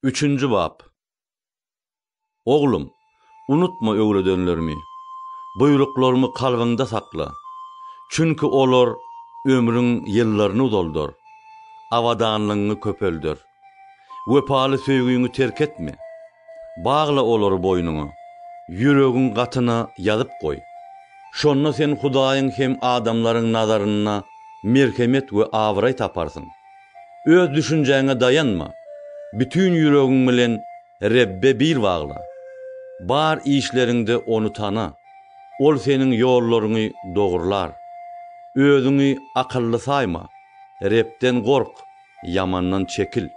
Üçünji bap. Oglum, unutma öwredenlerimi, buýruklarymy kalbyňda sakla. Çünki olar ömrüň ýyllaryny uzaldar, abadanlygyňy köpelder. Wepaly söýgiňi terk etme. Bagla olary boýnuňa, ýüregiň gatyna ýazyp goý. Şonda sen Hudaýyň hem adamlaryň nazarynda merhemet we abraý taparsyň. Öz düşünjäňe daýanma. Bütin ýüregiň bilen Rebbe bil bagla. Bar işleriňde Ony tana. Ol seniň ýollaryňy dogrular. Özüňi akylly saýma. Rebden gork, ýamandan çekil.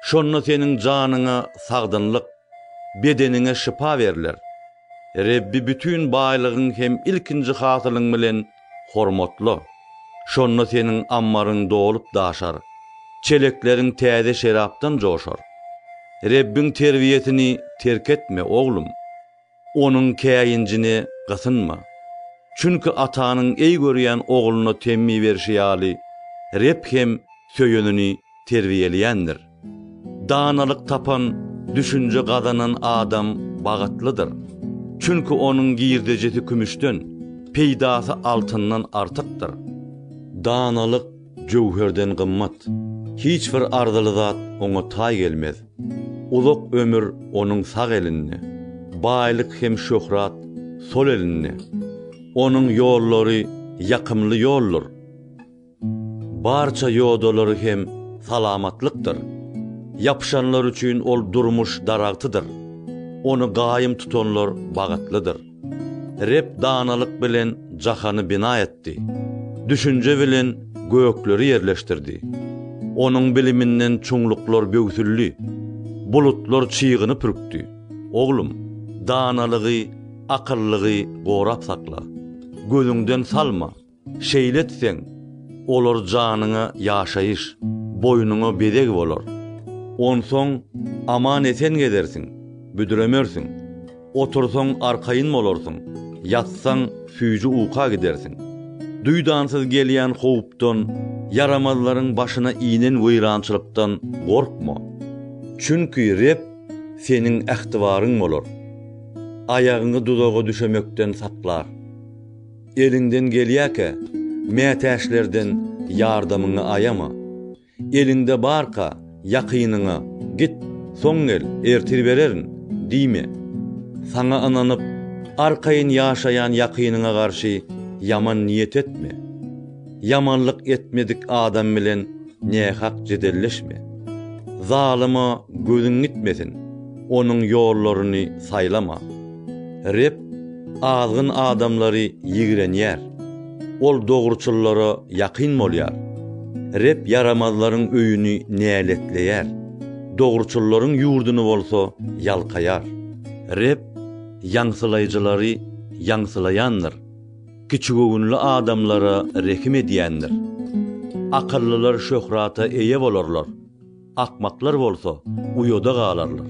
Şonda seniň janyňa sagdynlyk, bedeniňe şypa berler. Rebbi bütin baýlygyň hem ilkinji hasylyň bilen hormatla, şonda seniň ammaryň dolup-daşar, çelekleriň täze şerapdan joşar. Rebbiň terbiýesini terk etme, oglum, Onuň käýinjine gysynma. Çünki atanyň eý görýän ogluna temmi berşi ýaly, Reb hem söýenini terbiýeleýändir. Danalyk tapan, düşünje gazanan adam bagytlydyr. Çünki onuň girdejisi kümüşden, peýdasy altyndan artykdyr. Danalyk jöwherden gymmat. Hiç bir arzyly zat oňa taý gelmez. Uzak ömür onuň sag elinde, baýlyk hem şöhrat sol elinde. Onuň ýollary ýakymly ýoldur. Barça ýodalary hem salamatlykdyr. Ýapyşanlar üçin ol durmuş daragtydyr. Ony gaýym tutanlar bagytlydyr. Reb danalyk bilen jahany bina etdi. Düşünje bilen gökleri ýerleşdirdi. Onuň biliminden çuňluklar böwsüldi. Bulutlar çygyny pürkdi. Oglum, danalygy, akyllygy gorap sakla. Gözüňden salma. Şeýle etseň, olar janyňa ýaşaýyş, boýnuňa bezeg bolar. Onsoň aman-esen gezersiň, büdremersiň. Otursaň arkaýyn bolarsyň, ýatsaň süýji uka gidersiň. Duýdansyz gelýän howpdan, ýaramazlaryň başyna inen weýrançylykdan gorkma. Çünki Reb seniň ähtibaryň bolar. Aýagyňy duzaga düşemekden saklar. Eliňden gelýärkä, mätäçlerden ýardamyňy aýama. Eliňde barka, ýakynyňa, Git, soň gel, ertir bererin! diýme. Saňa ynanyp, arkaýyn ýaşaýan ýakynyňa garşy ýaman niýet etme. Ýamanlyk etmedik adam bilen nähak jedelleşme. Zalyma gözüň gitmesin, onuň ýollaryny saýlama. Reb azgyn adamlary ýigrenýär, Ol dogruçyllara ýakyn bolýar. Reb ýaramazlaryň öýüni näletleýär, dogruçyllaryň ýurduny bolsa ýalkaýar. Reb ýaňsylaýjylary ýaňsylaýandyr, kiçigöwünli adamlara rehim edýändir. Akyllylar şöhrata eýe bolarlar, akmaklar bolsa uýada galarlar.